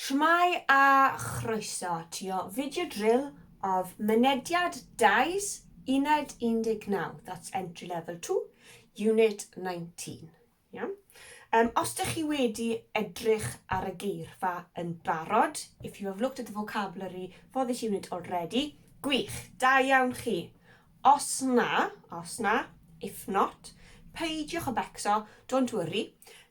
Shwmae a chroeso ti o Video Drill of Mynediad Dais Uned 19, that's Entry Level 2, Unit 19. Iawn? Um, os ydych chi wedi edrych ar y geirfa yn barod, if you have looked at the vocabulary for this unit already, gwych, da iawn chi. Os na, os na, if not, peidiwch o becso, don't worry,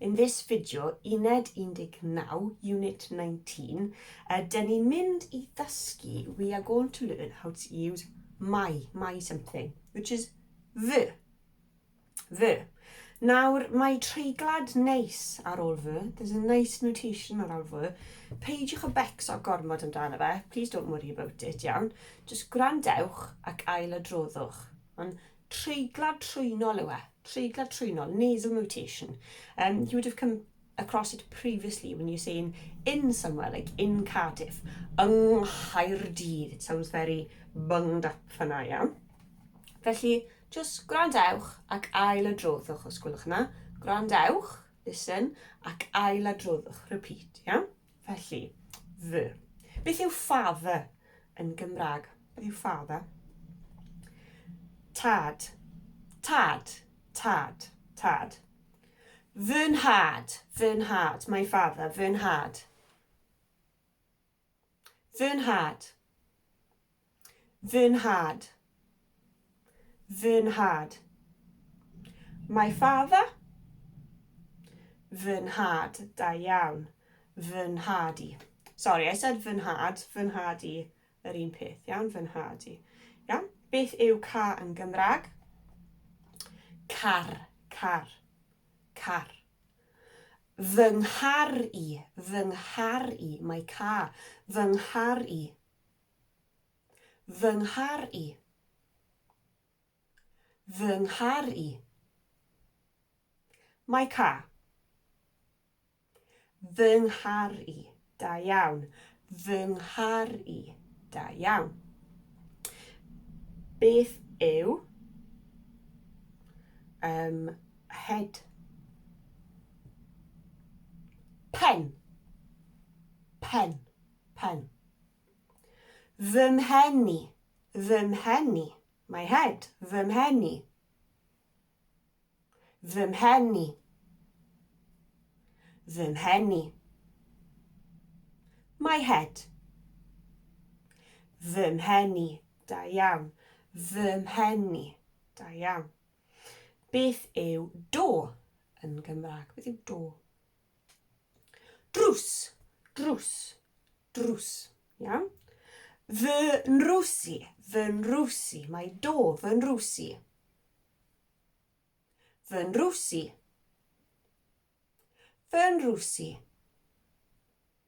In this video, uned 19, unit 19, uh, dyn ni'n mynd i ddysgu, we are going to learn how to use my, my something, which is fy. Fy. Nawr, mae treiglad neis ar ôl fy, there's a nice notation ar ôl fy, peidiwch y becso gormod amdano fe, please don't worry about it, iawn, just gwrandewch ac ail adroddwch. Ond treiglad trwynol yw e, treiglad trwynol, nasal mutation. Um, you would have come across it previously when you're saying in somewhere, like in Cardiff, yng Nghaerdydd. It sounds very bunged up fanna, iawn. Felly, just gwrandewch ac ail adroddwch, os gwelwch yna. Gwrandewch, listen, ac ail adroddwch, repeat, iawn. Felly, the. Beth yw father yn Gymraeg? Beth yw father? Tad. Tad. Tad. Tad. Fy nhad. Fy nhad. My father. Fy nhad. Fy nhad. Fy nhad. Fy nhad. My father. Fy nhad. Da iawn. Fy nhad i. Sorry, I said fy nhad. Fy nhad i. Yr un peth, iawn? Fy nhad i. Iawn? Beth yw ca yn Gymraeg? Car. Car. Car. Fy nghar i. Fy nghar i. My car. Fy nghar i. Fy nghar i. Fy nghar i. My car. Fy nghar i. Da iawn. Fy nghar i. Da iawn. Beth yw um, head pen pen pen Fy mhen i, fy mhen i. My head, fy mhen i. Fy mhen i. Fy mhen i. My head. Fy mhen i. Da iawn. Fy mhen i. Da iawn. Beth yw do yn Gymraeg? Beth yw do? Drws, drws, drws. Iawn? Fy nrws i, fy nrws i. Mae do, fy nrws i. Fy nrws i. Fy nrws i.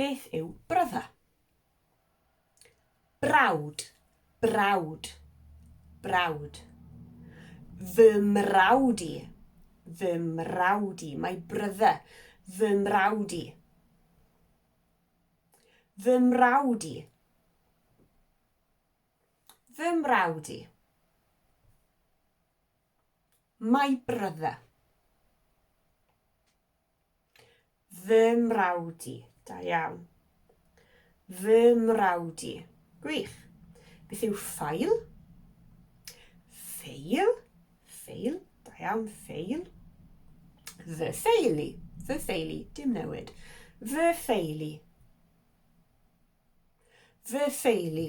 Beth yw brother? Brawd, brawd, brawd. Fy mrawd i, fy mrawd i. My brother, fy mrawd i. Fy mrawd i. Fy mrawd i. My brother. Fy mrawd i. Da iawn. Fy mrawd i. Gwych. Beth yw ffail? Ffeil. Ffeil. Da iawn. Ffeil. Fy ffeili. Fy ffeili. Dim newid. Fy ffeili. Fy ffeili.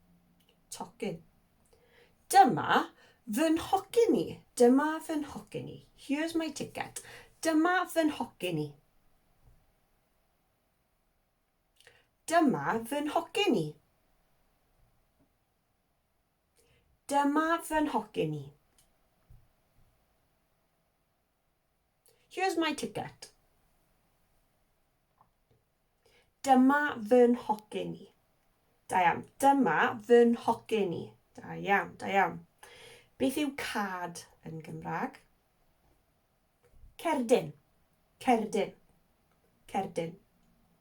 Tocyn. Dyma fy nhocyn i. Dyma fy nhocyn i. Here's my ticket. Dyma fy nhocyn i. Dyma fy nhocyn i. Dyma fy nhocyn i. Here's my ticket. Dyma fy nhocyn i. Da iawn. Dyma fy nhocyn i. Da iawn, da iawn. Beth yw cad yn Gymraeg? Cerdyn. Cerdyn. Cerdyn.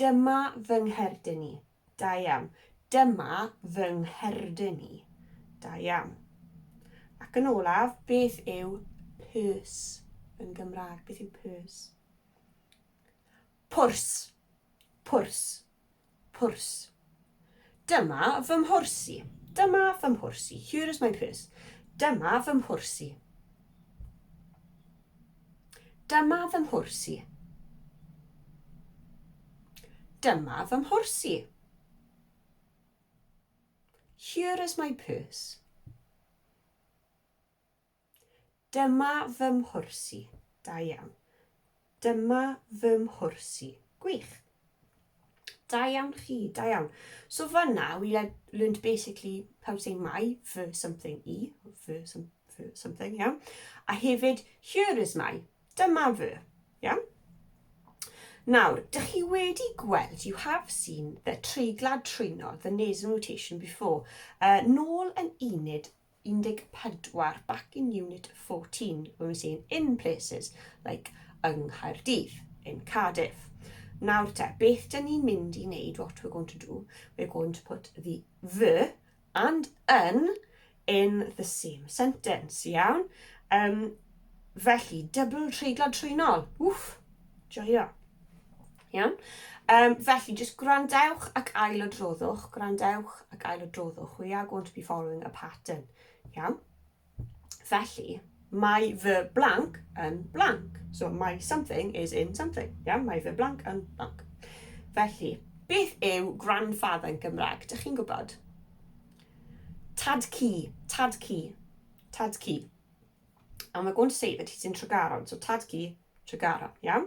Dyma fy ngherdyn i. Da iawn. Dyma fy ngherdyn i. Da iawn. Ac yn olaf, beth yw purse yn Gymraeg? Beth yw purse? Pwrs. Pwrs. Pwrs. Dyma fy mhwrs i. Dyma fy mhwrs i. Here is my purse. Dyma fy mhwrs i. Dyma fy mhwrs i. Dyma fy mhwrs i. Here is my purse. Dyma fy mhwrs i. Da iawn. Dyma fy mhwrs i. Gwych. Da iawn chi, da iawn. So fanna, we learned basically how to say my for something i, for, some, for something, iawn. A hefyd, here is my, dyma fy, iawn. Nawr, dych chi wedi gweld, you have seen the treiglad trwyno, the nasal notation before, uh, nôl yn uned 14 back in unit 14 when we say in places like yng Nghaerdydd, in Cardiff. Nawr te, beth dyn ni'n mynd i wneud, what we're going to do, we're going to put the the and yn in the same sentence, iawn? Um, felly, dybl treiglo trwynol, wff, joio. Iawn? Um, felly, jyst gwrandewch ac ail o droddwch, gwrandewch ac ail o droddwch. We are going to be following a pattern. Iawn? Felly, mae fy blank yn blank. So, mae something is in something. Iawn? Mae fy blank yn blank. Felly, beth yw grandfather yn Gymraeg? Dych chi'n gwybod? Tad cu, tad cu, tad cu. And we're going to say that he's in Tregaron. So, tad cu, Tregaron. Iawn?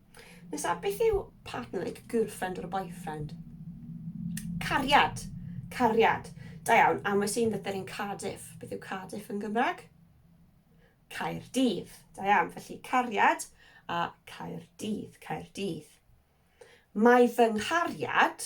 Nesa, beth yw partner, like girlfriend or a boyfriend? Cariad. Cariad. Da iawn, am wnes i'n ddyder yn Cardiff. Beth yw Cardiff yn Gymraeg? Caerdydd. Da iawn, felly cariad a Caerdydd, Caerdydd. Mae fy nghariad,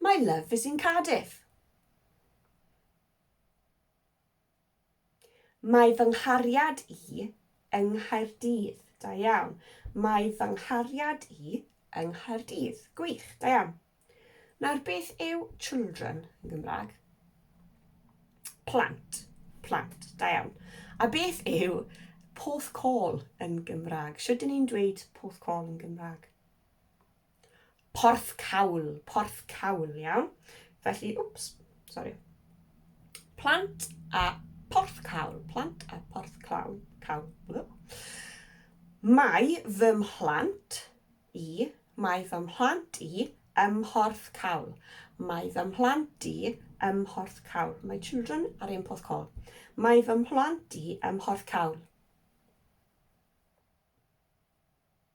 My love is in Cardiff. Mae fy nghariad i yng Nghaerdydd. Da iawn. Mae fy nghariad i yng Nghaerdydd. Gwych, da iawn. Nawr, beth yw children yn Gymraeg? Plant. Plant, da iawn. A beth yw porthcawl yn Gymraeg? Sut dyn ni'n dweud porthcawl yn Gymraeg? Porthcawl, porthcawl, iawn? Felly, wps, sori. Plant a porthcawl, plant a porthcawl, cawl. Mae fy mhlant i, mae fy mhlant i ym Mhorthcawl. Mae fy mhlant i ym Mhorthcawl. My children are in Porthcawl. Mae fy mhlant i ym Mhorthcawl.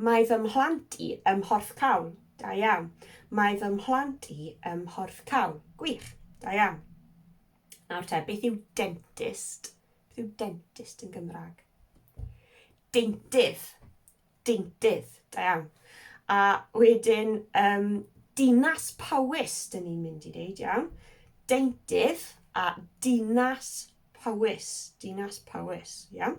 Mae fy mhlant i ym Mhorthcawl. Da iawn. Mae fy mhlant i ym Mhorthcawl. Gwych. Da iawn. Nawr te, beth yw dentist? Beth yw dentist yn Gymraeg? Deintydd. Deintydd. Da iawn. A wedyn, um, dinas Powys, dyn ni'n mynd i ddeud, iawn. Deintydd a dinas Powys. Dinas Powys, iawn.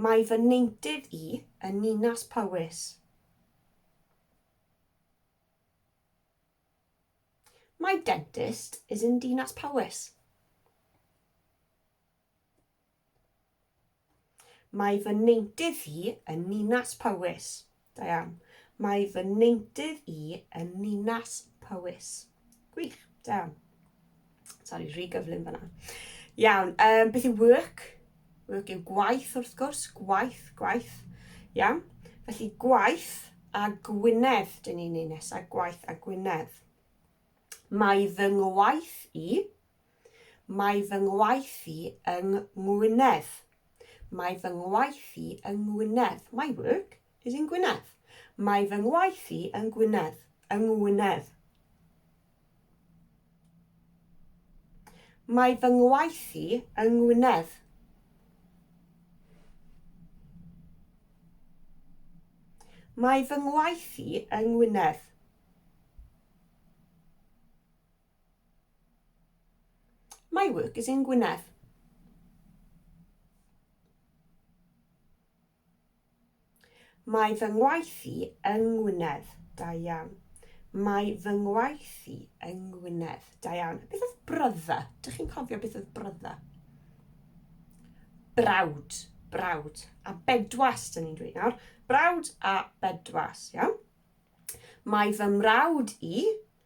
Mae fy neintydd i yn Ninas Powys. My dentist is in Dinas Powys. Mae fy neintydd i yn Ninas Powys. Da iawn. Mae fy neintydd i yn Ninas Powys. Gwych. Da iawn. Sori, rhy gyflym fyna. Iawn. Um, beth yw work? Work yw gwaith, wrth gwrs. Gwaith, gwaith. Iawn. Felly gwaith a Gwynedd, dyn ni'n ei nesaf. Gwaith a Gwynedd. Mae fy ngwaith i Mae fy ngwaith i yng Ngwynedd. Mae fy ngwaith i yng Ngwynedd. My work is in Gwynedd. Mae fy ngwaith i yng Gwynedd. Yng Ngwynedd. Mae fy ngwaith i yng Ngwynedd. Mae fy ngwaith i yng Ngwynedd. My work is in Gwynedd. Mae fy ngwaith i yng Ngwynedd. Da iawn. Mae fy ngwaith i yng Ngwynedd. Da iawn. Beth oedd brother? Dych chi'n cofio beth oedd brother? Brawd. Brawd. A bedwas, dyn ni'n dweud nawr. Brawd a bedwas, iawn? Mae fy mrawd i,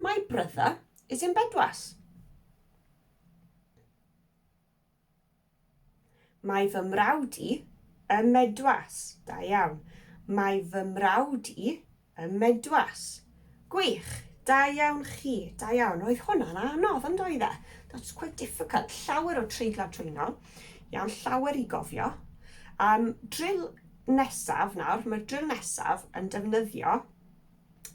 My brother is in bedwas. Mae fy mrawd i ym medwas. Da iawn. Mae fy mrawd i ym medwas. Gwych. Da iawn chi. Da iawn. Oedd hwnna'n anodd yn doedd e? That's quite difficult. Llawer o treiglau trwyno. Iawn, llawer i gofio. Um, drill nesaf nawr. Mae'r drill nesaf yn defnyddio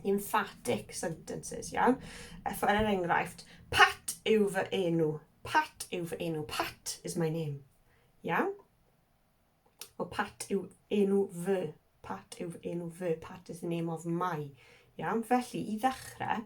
emphatic sentences, iawn? Efo er enghraifft, Pat yw fy enw. Pat yw fy enw. Pat is my name. Iawn? O Pat yw enw fy. Pat yw enw fy. Pat is the name of my. Iawn? Felly, i ddechrau,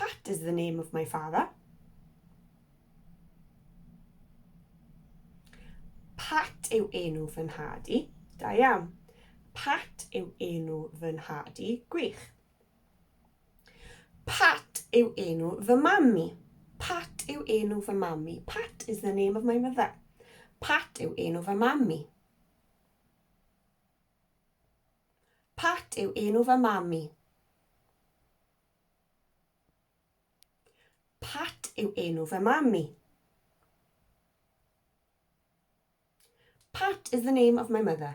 Pat is the name of my father. Pat yw enw fy nhad i. Da iawn. Pat yw enw fy nhad i. Gwych. Pat yw enw fy mami. Pat yw enw fy mami. Pat is the name of my mother. Pat yw enw fy mami. Pat yw enw fy mam i. Pat yw enw fy mam i. Pat is the name of my mother.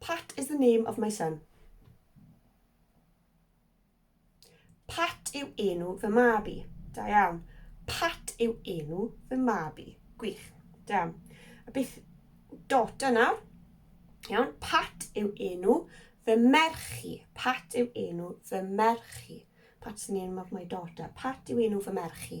Pat is the name of my son. Pat yw enw fy mab i. Da iawn. Pat yw enw fy mab i. Gwych. Da iawn. A beth dot yna? Iawn. Pat yw enw fy merch i. Pat yw enw fy merch i. Pat is the name of my daughter. Pat yw enw fy merch i.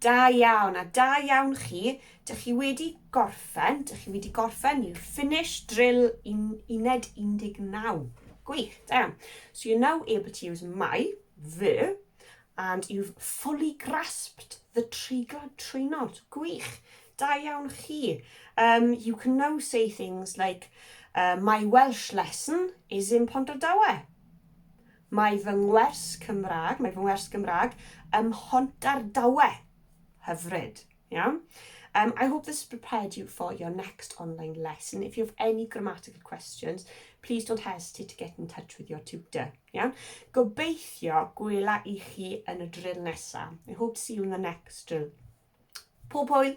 Da iawn, a da iawn chi. Dych chi wedi gorffen, dych chi wedi gorffen, you've finished drill un, uned 19. Gwych, da iawn. So you're now able to use my, fy, and you've fully grasped the treiglad trwynod. Gwych, da iawn chi. Um, you can now say things like, uh, my Welsh lesson is in Pont Dawe. Mae fy ngwers Cymraeg, mae fy ngwers Gymraeg ym Mhontardawe. Hyfryd. Iawn? Um, I hope this has prepared you for your next online lesson. If you have any grammatical questions, please don't hesitate to get in touch with your tutor. Iawn? Gobeithio gwela i chi yn y drill nesaf. I hope to see you in the next drill. Pob hwyl!